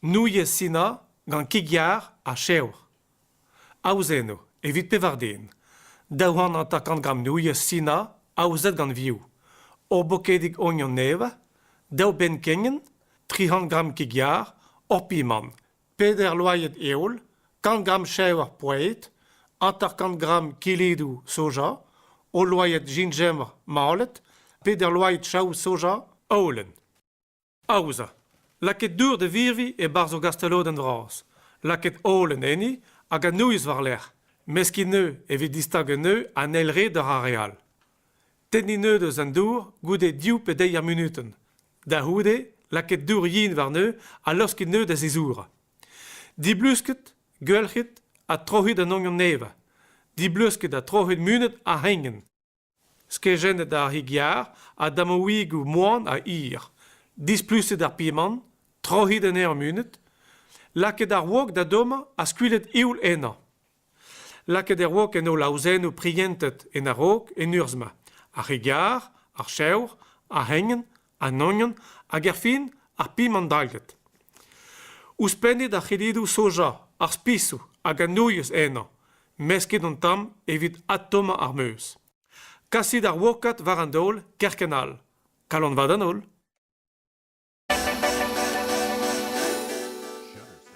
Nouilh Sina gant kig-yar ha chevr. Aozen eo evit pevar den. Daou c'hant hanter-kant gramm nouilh Sina aozet gant vioù. Ur bokedig ognon nevez, daou benn kegnen, tri c'hant gramm kig-yar, ur pimant, Peder loened heol, kant gramm cheñver proued, hanter-kant gramm kilidoù soja, hol loened gingembre malet, peder loened chaou soja holen. Aozañ. Lakaet dour da virviñ e-barzh ur gastelodenn vras. Lakaet holen enni hag an nouilh war-lerc'h. Meskiñ neu evit distagañ neu an eil red war ar re all. Tenniñ neu deus an dour goude div pe deir munutenn. Da c'houde, lakaet dour yin warneu ha laoskit neu da zizourañ. Diblusket, geulc'hit ha troc'hit an ognon nevañ. Diblusket ha troc'hit munut ar c'hrengenn. Skejennet ar c'hig-yar ha damaouigoù moan ha hir. Displuset ar pimant, troc'hit anezhañ munut. Lakaet ar wok da dommañ ha skuilhet ivl ennañ. Lakaet e raok en holl aozennoù prientet en a-raok en urzh-ma ar re gaer, ar chevr, ar c'hegnan, an ognon hag erfin ar pimandalied. Ouzhpennit ar c'hillidoù soja, ar spisoù hag an nouilhez ennañ. Meskit an tamm evit adtommañ ar meuz. Kasit ar wokad war an daol kerkent all. Kalanvat an holl.